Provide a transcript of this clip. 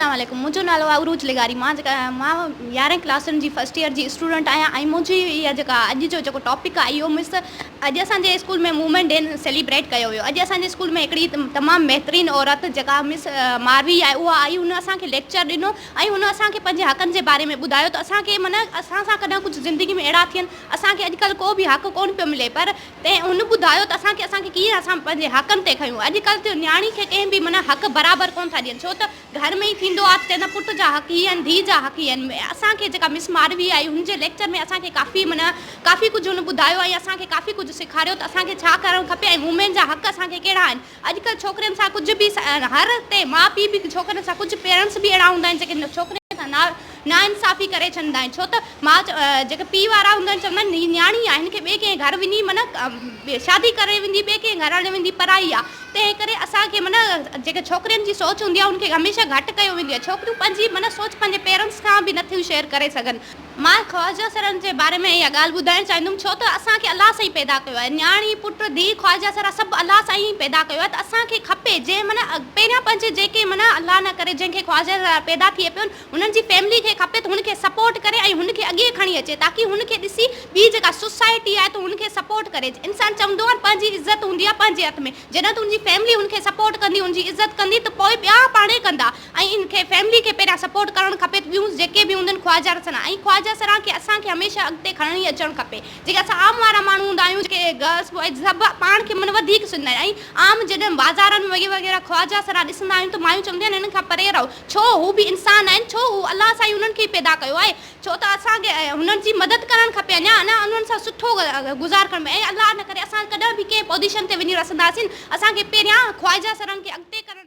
اسلام عليڪم منهنجو نالو آهي عروج لغاري مان جيڪا مان يارهين ڪلاس جي فرسٽ ايئر جي اسٽوڊنٽ آهيان ۽ منهنجي اها جيڪا اڄ جو جيڪو ٽاپڪ آهي اهو مس اڄ اسان جي اسڪول ۾ وومين ڊي سيليبريٽ ڪيو ويو اڄ اسان جي اسڪول ۾ هڪڙي تمام بهترين عورت جيڪا مس ماروي آهي اها آئي هن اسان کي ليڪچر ڏنو ۽ هن اسان کي پنهنجي حقن جي باري ۾ ٻڌايو ته اسان کي معنيٰ اسان سان ڪڏهن ڪجهه زندگي ۾ اهڙا ٿين اسان کي اڄڪلهه ڪو به حق ڪونه پيو ملي پر تنهن هن ٻڌايو ته اسان کي اسان کي ڪيئن اسان پنهنجي حقن تي کنيون اڄ ڪلھ ٿيو نياڻي کي ڪنهن به معنيٰ حق برابر ڪون ٿا ڏين ڇو ته گهر ۾ ئي ٿيندو آ ته چوندا پٽ جا حق هي آهن ڌيء جا حق هي آهن اسان کي جيڪا مس ماروي آئي هن جي ليڪچر ۾ اسان کي ڪافي معنيٰ ڪافي ڪجھ هن ٻڌايو ۽ اسان کي ڪافي ڪجھ سيکاريو ته اسان کي ڇا ڪرڻ کپي ۽ وومين جا حق اسان کي ڪهڙا آهن اڄڪلهه ڇوڪرين سان ڪجهه به هر تي ماء پيء به ڇوڪرين سان ڪجهه پيرنٽس به اهڙا هوندا آهن جيڪي ڇوڪرين سان ناانصافي ڪري ڇڏندا آهن ڇو ته ماء جيڪي پيء وارا هوندا آهن چوندا آهن هي نياڻي آهي هن کي ٻئي ڪنهن گهر وڃي من شادي ڪري ويندي ٻئي ڪنهن گهر هلي ويندي پرائي آهي تنهن ڪري اسان کي من جيڪي ڇوڪرين جي سوچ هوندي آهي ان کي هميشه گهٽ ڪيو ويندي آهي ڇوڪريون پنهنجي من سوچ پنهنجي پيرنٽس کان به نٿيون شيئر ڪري سگهن مان خواجه سرن جي باري ۾ اها ڳالهه ٻڌائڻ چاهيندم ڇو ته اسان کي الله سائين پيدا ڪيو آهي نياڻي پٽ ڌيء خواجه سرا سڀ الله سائين ئي پيدا ڪيو آهي ته اسان کي کپي جنهن من پهريان پنهنجي جيڪي من الله نه ڪري جنهن کي خواجه سرا پيدا ٿئي پيو هن جي فيملي کي کپي ته هن کي سپورٽ ڪري ۽ هن کي اڳي کڻي اچي تاڪي هن کي ڏسي ٻي جيڪا سوسائٽي آهي ته هن کي سپورٽ ڪري انسان چوندو آهي پنهنجي عزت هوندي آهي پنهنجي هٿ ۾ جڏهن ته هن جي فيملي هن کي سپورٽ ڪندي هن جي عزت ڪندي ته پوء ٻيا پاڻهي ڪندا ۽ هن کي فيملي کي پهريان سپورٽ ڪرڻ کپي ته ٻيون جيڪي به هوندين خواجه رسنا ۽ خواجه سران کي اسان کي هميشه اڳتي کڻڻي اچڻ کپي جيڪي اسان عام وارا ماڻهو هوندا آهيون جيڪي غصب ۽ سڀ پاڻ کي من وڌيڪ سمجهندا آهن ۽ عام جڏهن بازارن ۾ وغيره خواجه سران ڏسندا آهيون ته مايون چونديون آهن هنن کان پري رهو ڇو هو به انسان آهن ڇو هو الله سائين هنن کي ئي پيدا ڪيو آهي ڇو ته اسان کي انهن جي مدد ڪرڻ کپي اڃا اڃا انهن سان سٺو گذار ڪرڻ ۽ الله نه ڪري اسان ڪڏهن به ڪنهن پوزيشن تي وڃي رسنداسين اسان کي پهريان خواجه سرن کي اڳتي ڪرڻ